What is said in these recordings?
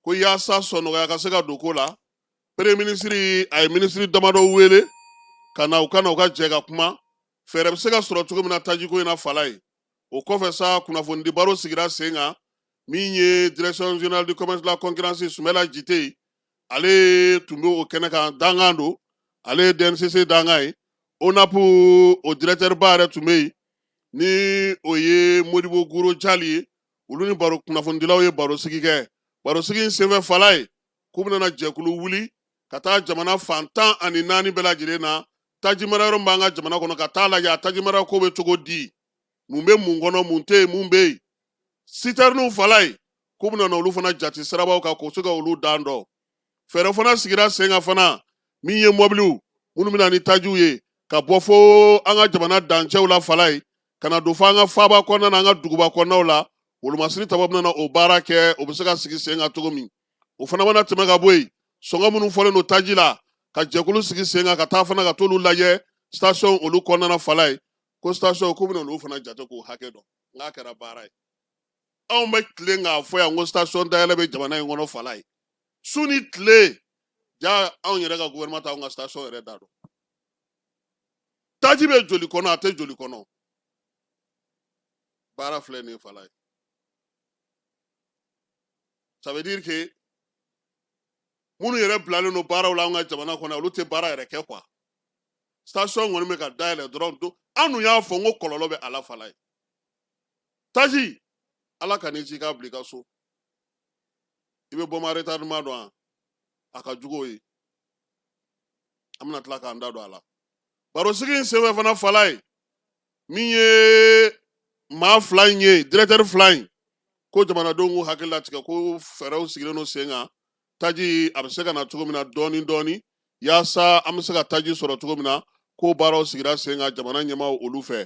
ko yaasa sɔnɔgɔya ka se ka don ko la premier minisiri a ye minisiri damadɔ wele ka na u ka na u ka jɛ ka kuma fɛɛrɛ bɛ se ka sɔrɔ cogo min na tajiko in na falaye o kɔfɛ sa kunnafonidi baro sigira sen kan min ye direction générale du commerce de la concurrence sumɛla jiteye ale tun bɛ o kɛnɛ kan dankan don ale ye dncc dankan ye onap o directeur ba yɛrɛ tun bɛ yen ni o ye modibo guro jali ye olu ni baro kunnafonidilaw ye barosigi kɛ barosigi in senfɛ falaye k'u bɛna jɛkulu wuli ka taa jamana fan tan ani naani bɛɛ lajɛlen na tajimara yɔrɔ b'an ka jamana kɔnɔ ka taa lajɛ a tajimara ko bɛ cogo di mun bɛ mun kɔnɔ mun tɛ yen mun bɛ yen sitɛriniw falaye k'u bɛna olu fana jate sirabaw kan k'o se ka olu dan dɔn fɛɛrɛ fana sigira sen kan fana min ye mɔbiliw minnu bɛna ni tajiw ye ka bɔ fo an ka jamana dancɛw la falaye ka na don fo an ka faaba kɔnɔna na an ka duguba kɔnɔnaw la wolomasiri taba bɛna na o baara kɛ o bɛ se ka sigi sen kan cogo min o fana mana tɛmɛ ka bɔ yen sɔngɔ minnu fɔlen don taji la ka jɛkulu sigi sen kan ka taa fana ka t'olu lajɛ station olu kɔnɔna na falaye ko station k'u bɛna olu fana jate k'o hakɛ dɔn n'a kɛra baara ye anw bɛ tilen k'a fɔ yan ko station dayɛlɛ bɛ jamana in kɔnɔ falaye su ni tile ja anw yɛrɛ ka gouvernement t'anw ka station yɛrɛ da dɔn taji bɛ joli kɔnɔ a tɛ joli kɔnɔ baara filɛ nin ye falaye ça veut dire que minnu yɛrɛ bilalen don baaraw la an ka jamana kɔnɔ olu tɛ baara yɛrɛ kɛ quoi station kɔni bɛ ka dayɛlɛ dɔrɔn an dun y'a fɔ n ko kɔlɔlɔ bɛ a la falaye taji ala kan'i ci k'a bila i ka so i bɛ bombe à retardement dɔn a a ka jugu o ye an bɛna tila k'an da don a la barosigi in senfɛ fana falaye min ye maa fila in ye directeur fila in ko jamanadenw k'u hakili latigɛ ko fɛɛrɛw sigilen don sen kan taji a bɛ se ka na cogo min na dɔɔni dɔɔni yaasa an bɛ se ka taji sɔrɔ cogo min na k'o baaraw sigira sen kan jamana ɲɛmaaw olu fɛ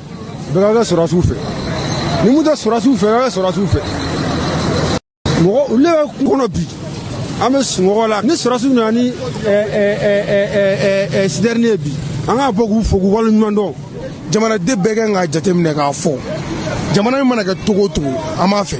bɛɛ ka kɛ sɔrɔdasiw fɛ ni mun tɛ sɔrɔdasiw fɛ bɛɛ ka kɛ sɔrɔdasiw fɛ mɔgɔ olu bɛ kungo kɔnɔ bi an bɛ sunɔgɔ la ni sɔrɔdasiw nana ni sitɛrini ye bi an k'a bɔ k'u fo k'u waleɲuman dɔn jamanaden bɛɛ ka kan k'a jateminɛ k'a fɔ jamana in mana kɛ cogo o cogo an b'a fɛ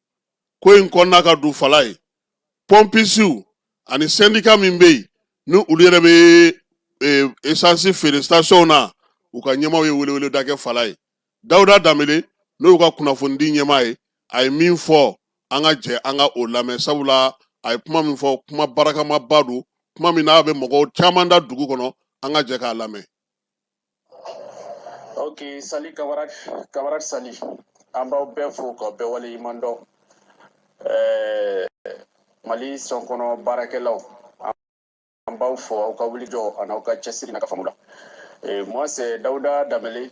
ko in kɔnɔna ka don falaye pɔnpisiw ani sɛndika min bɛ yen ni olu yɛrɛ bɛ esansi eh, feere sitasiɔnw na u ka ɲɛmaaw ye weleweleda kɛ falaye dawuda danbele n'o y'u ka kunnafonidi ɲɛmaa ye a ye min fɔ an ka jɛ an ka o lamɛn sabula a ye kuma min fɔ kuma barakamaba don kuma min n'a bɛ mɔgɔ caman da dugu kɔnɔ an ka jɛ k'a lamɛn ok salut camarade camarade salut an b'aw bɛɛ fo ka bɛɛ wale ɲuman dɔn eh, mali station kɔnɔ baarakɛlaw an b'aw fo aw ka wulijɔ an'aw ka cɛsiri n'a ka faamu la eh, moi c'est dawuda danbele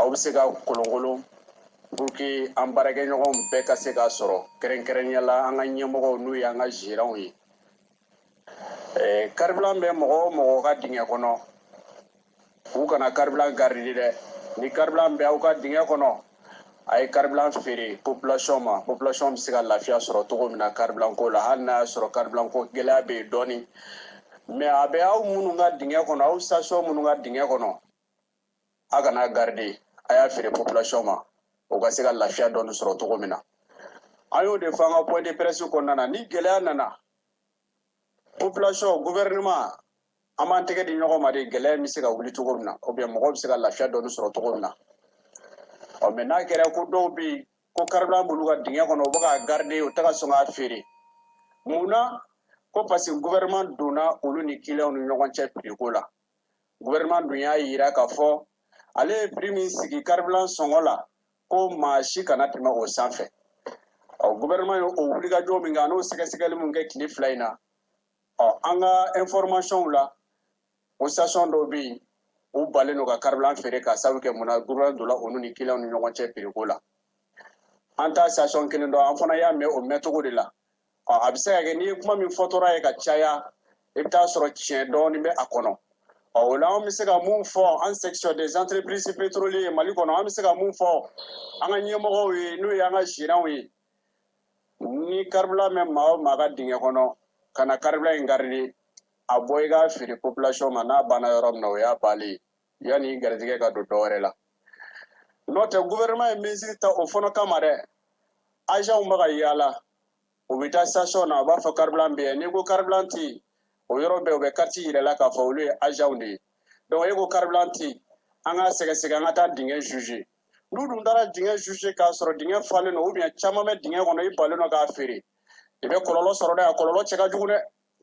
aw bɛ se k'a kolonkolon pour que an baarakɛɲɔgɔnw bɛɛ ka se k'a sɔrɔ kɛrɛnkɛrɛnya la an ka ɲɛmɔgɔw n'u y'an ka gérants ye karibilan bɛ mɔgɔ o mɔgɔ ka dingɛ kɔnɔ u kana karibilan garidi dɛ ni karibilan bɛ aw ka dingɛ kɔnɔ a ye karibilan feere population ma population bɛ se ka lafiya sɔrɔ cogo min na karibilan ko la hali n'a y'a sɔrɔ karibilan ko gɛlɛya bɛ yen dɔɔni mais a bɛ aw minnu ka dingɛ kɔnɔ aw station minnu ka dingɛ kɔnɔ a kan'a garidi a y'a feere population ma u ka se ka lafiya dɔɔni sɔrɔ cogo min na an y'o de fɔ an ka point de presse kɔnɔna na ni gɛlɛya nana population gouvernement an b'an tɛgɛ di ɲɔgɔn ma de gɛlɛya bɛ se ka wuli cogo min na ou bien mɔgɔw bɛ se ka lafiya dɔɔni sɔrɔ cogo min na ɔ mais n'a kɛra ko dɔw bɛ yen ko karibilan b'olu ka dingɛ kɔnɔ u bɛ k'a garidi u tɛ ka sɔn k'a feere mun na ko parce que gouvernement donna olu ni kiliyanw ni ɲɔgɔn cɛ prix ko la gouvernement dun y'a yira k'a fɔ ale ye prix min sigi karibilan sɔngɔ la ko maa si kana tɛmɛ o sanfɛ ɔ gouvernement ye o wulikajɔ min kɛ an'o sɛgɛsɛgɛli min kɛ tile fila in na ɔ an ka informationw la o station dɔw bɛ yen u balen don ka karibilan feere ka sabu kɛ mun na gouvernement donna olu ni kiliyanw ni ɲɔgɔn cɛ prix ko la an t'a station kelen dɔn an fana y'a mɛn o mɛncogo de la a bɛ se ka kɛ n'i ye kuma min fɔtɔra ye ka caya i bɛ t'a sɔrɔ tiɲɛ dɔɔnin bɛ a kɔnɔ ɔ o la an bɛ se ka mun fɔ an section des entreprises pétrolières mali kɔnɔ an bɛ se ka mun fɔ an ka ɲɛmɔgɔw ye n'o ye an ka gérants ye ni karibilan bɛ maa o maa ka dingɛ kɔnɔ kana karibilan in garidi a bɔ i k'a feere population ma n'a banna yɔrɔ min na o y'a bannen ye yanni garijɛgɛ ka don dɔwɛrɛ la n'o tɛ gouvernement ye mesure ta o fana kama dɛ agentw bɛ ka yaala u bɛ taa station na u b'a fɔ karibilan bɛ yan n'i ko karibilan tɛ yen o yɔrɔ bɛɛ u bɛ carte yira i la k'a fɔ olu ye agentw de ye donc e ko karibilan tɛ yen an k'a sɛgɛsɛgɛ an ka taa dingɛ jauger n'u dun taara dingɛ jauger k'a sɔrɔ dingɛ falen don ou bien caman bɛ dingɛ kɔnɔ i balen don k'a feere i bɛ kɔlɔlɔ sɔrɔ dɛ a kɔlɔlɔ cɛ ka jugu dɛ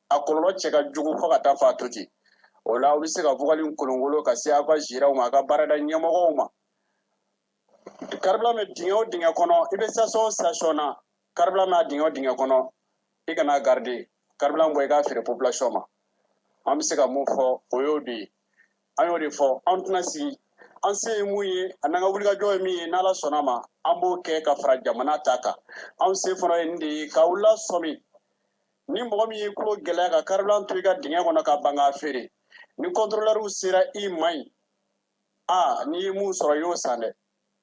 a kɔlɔlɔ cɛ ka jugu fo ka taa fɔ a to ten o la aw bɛ se ka vocal kolonkolon ka se aw ka gérants ma a ka baarada ɲɛmɔgɔw ma karibilan bɛ dingɛ o dingɛ kɔnɔ i bɛ station o station na karibilan bɛ a dingɛ o dingɛ kɔnɔ i kan'a garidi karibilan bɔ i k'a feere population ma an bɛ se ka mun fɔ o y'o de ye an y'o de fɔ an tɛna sigi an se ye mun ye an'an ka wulikajɔ ye min ye n'ala sɔnna ma an b'o kɛ ka fara jamana ta kan anw se fana ye nin de ye k'aw lasɔmi ni mɔgɔ min y'i tulo gɛlɛya ka karibilan to i ka dingɛ kɔnɔ ka ban k'a feere ni kɔntorolɛriw sera i ma yen n'i ye mun sɔrɔ i y'o san dɛ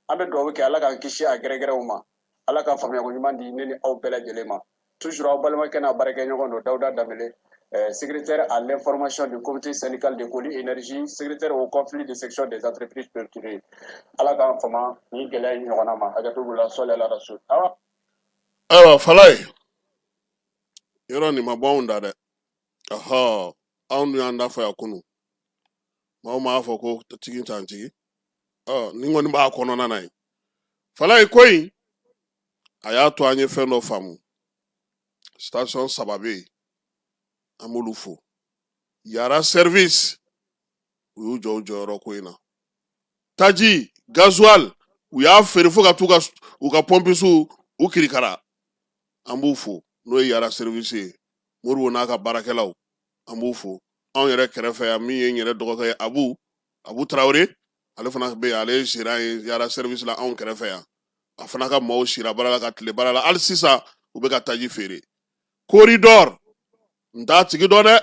an bɛ dugawu kɛ ala k'an kisi a gɛrɛgɛrɛw ma ala ka faamuyako ɲuman di ne ni aw bɛɛ lajɛlen ma toujours aw balimakɛ n'a baarakɛɲɔgɔn don dawuda danbele eh, secrétaire à l'information du comité syndical de Coly Énergie, secrétaire aux conflits de section des entreprises pétrolières. Ala k'an fama ni gɛlɛya in ɲɔgɔnna ma hakɛto b'u la sɔli ala rasul awa ayiwa falayi yɔrɔ nin ma bɔ anw da dɛ ɔhɔ anw dun y'an da fɔ yan kunu maaw m'a fɔ ko tigi t'an tigi ɔ nin kɔni b'a kɔnɔna na ye falayi ko in a y'a to an ye fɛn dɔ faamu station saba bɛ yen an b'olu fo yara service u y'u jɔ u jɔyɔrɔ ko in na taji gazuwali u y'a feere fo ka t'u ka pɔnpisiw u kirikara an b'u fo n'o ye yara serivisi ye moribo n'a ka baarakɛlaw an b'u fo anw yɛrɛ kɛrɛfɛ yan min ye n yɛrɛ dɔgɔkɛ ye abu abu tarawele ale fana bɛ ale ye zeran ye yara serivisi la anw kɛrɛfɛ yan a fana ka maaw sira baara la ka tile baara la hali sisan u bɛ ka taji feere koridɔri n t'a tigi dɔn dɛ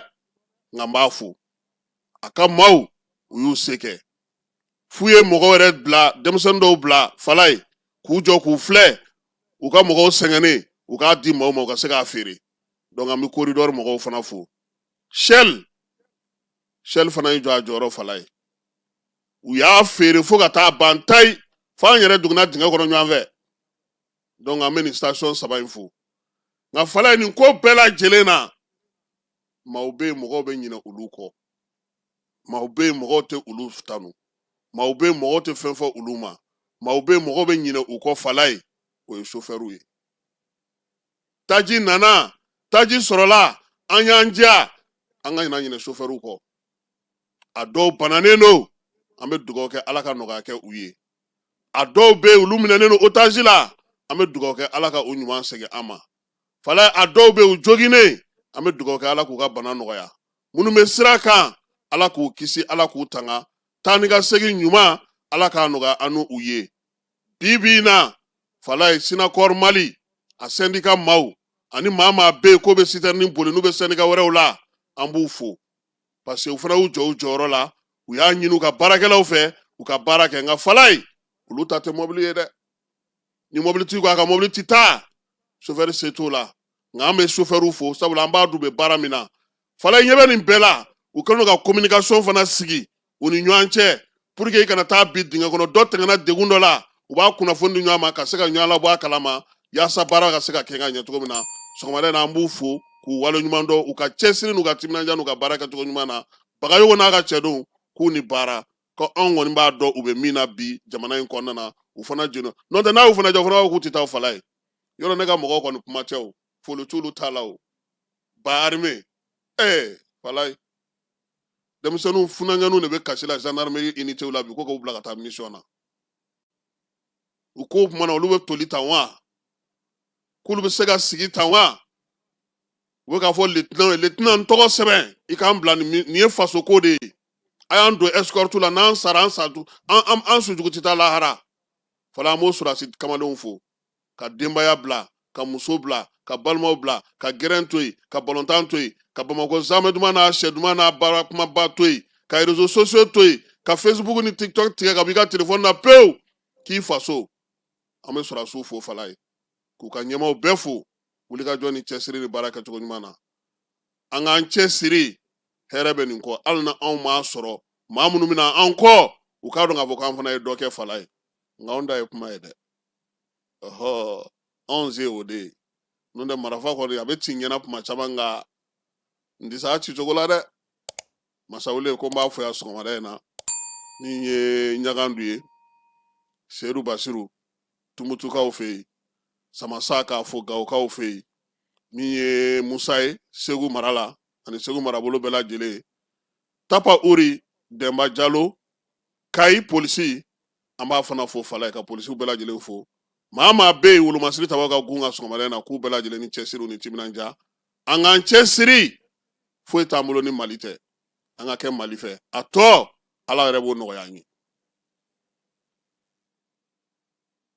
nka n b'a fo a ka maaw u y'u se kɛ f'u ye mɔgɔ yɛrɛ bila denmisɛnnin dɔw bila falayi k'u jɔ k'u filɛ u ka mɔgɔw sɛgɛnnen u k'a di maaw ma u ka se k'a feere donc an bɛ koridɔri mɔgɔw fana fo shell shell fana y'i jɔ a jɔyɔrɔ falayi u y'a feere fo ka taa ban tayi fo an yɛrɛ duguna dingɛ kɔnɔ ɲɔgɔn fɛ donc an bɛ nin station saba in fo nka falayi nin ko bɛɛ lajɛlen na maaw bɛ yen mɔgɔw bɛ ɲinɛ olu kɔ maaw bɛ yen mɔgɔw tɛ olu tanu maaw bɛ yen mɔgɔw tɛ fɛn fɔ olu ma maaw bɛ yen mɔgɔw bɛ ɲinɛ u kɔ falayi o ye sofɛriw ye taji nana taji sɔrɔla an y'an jija an kana ɲinɛ sofɛriw kɔ a dɔw bananen don an bɛ dugawu kɛ ala ka nɔgɔya kɛ u ye a dɔw bɛ yen olu minɛnen don otazi la an bɛ dugawu kɛ ala ka u ɲuman segin an ma falayi a dɔw bɛ yen u joginnen an bɛ dugawu kɛ ala k'u ka bana nɔgɔya minnu bɛ sira kan ala k'u kisi ala k'u tanga taa ni ka segin ɲuman ala k'a nɔgɔya an n'u u ye bi bi in na falayi sinakɔri mali a sɛndika maaw ani maa maa bɛ yen k'o bɛ sitɛrinin boli n'u bɛ sɛndika wɛrɛw la an b'u fo parce que u fana y'u jɔ u jɔyɔrɔ la u y'a ɲini u ka baarakɛlaw fɛ u ka baara kɛ nka falayi olu ta tɛ mɔbili ye dɛ ni mɔbilitigi ko a ka mɔbili ti taa sofɛri se t'o la nka an bɛ sofɛriw fo sabula an b'a dɔn u bɛ baara min na falayi ɲɛ bɛ nin bɛɛ la u kɛlen don ka kominikasɔn fana sigi u ni ɲɔgɔn cɛ pour que i kana taa bin dingɛ kɔnɔ dɔ tɛmɛna degun dɔ la u b'a kunnafoni di ɲɔgɔn ma ka se ka ɲɔgɔn labɔ a kalama yaasa baara ka se ka kɛ ka ɲɛ cogo min na sɔgɔmada in na an b'u fo k'u wale ɲuman dɔn u ka cɛsiri n'u ka timinanja n'u ka baara kɛcogo ɲuman na bagayogo n'a ka cɛdenw k'u ni baara ko anw kɔni b'a dɔn u bɛ min na bi jamana in kɔnɔna na u fana jɛnna n'o tɛ n'a y'u fana jɔ u fana b'a fɔ k'u tɛ taa falayi yɔrɔ ne ka mɔgɔw kɔni kuma tɛ o foli t'olu t'a la o ba arime ɛɛ falayi denmisɛnninw funankɛninw de bɛ kasi la gendarmerie unitéw la bi ko k'u bila ka taa mission na u ko commandant olu bɛ toli tan wa k'olu bɛ se ka sigi tan wa u bɛ k'a fɔ lieutenant ye lieutenant n tɔgɔ sɛbɛn i k'an bila nin ye faso ko de ye a y'an don escorte la n'an sara an sa an an sujugu tɛ taa lahara fɔlɔ an b'o sɔrɔsi kamalenw fo ka denbaya bila ka muso bila ka balimaw bila ka gɛrɛn to yen ka balontan to yen ka bamakɔ zamɛ duman n'a shɛ duman n'a baara kumaba to yen ka réseaux sociaux to yen ka facebook ni tiktok tigɛ ka b'i ka telefɔni na pewu k'i faso an bɛ sɔrɔsiw fo falayi k'u ka ɲɛmaaw bɛɛ fo wulikajɔ ni cɛsiri ni baara kɛcogo ɲuman na an k'an cɛsiri hɛrɛ bɛ nin kɔ hali ni anw m'a sɔrɔ maa minnu bɛ na an kɔ u k'a dɔn k'a fɔ k'an fana ye dɔ kɛ falayi nka anw da ye kuma ye dɛ ɔhɔ anw se o de ye n'o tɛ marafa kɔni a bɛ ci n ɲɛna kuma caman nka n tɛ se a ci cogo la dɛ masawule ko n b'a fo yan sɔgɔmada in na min ye ɲagandu ye seyidu basiru tumutukaw fɛ yen samasa k'a fo gawokaw fɛ yen min ye musa ye segu mara la ani segu marabolo bɛɛ lajɛlen tapa uri dɛnba jalo kayi polisi an b'a fana fo falayi ka polisiw bɛɛ lajɛlen fo maa maa bɛ yen wolomasiri taba ka gun ka sɔgɔmada in na k'u bɛɛ lajɛlen ni cɛsiri ni timinanja an k'an cɛsiri foyi t'an bolo ni mali tɛ an ka kɛ mali fɛ a tɔ ala yɛrɛ b'o nɔgɔya an ye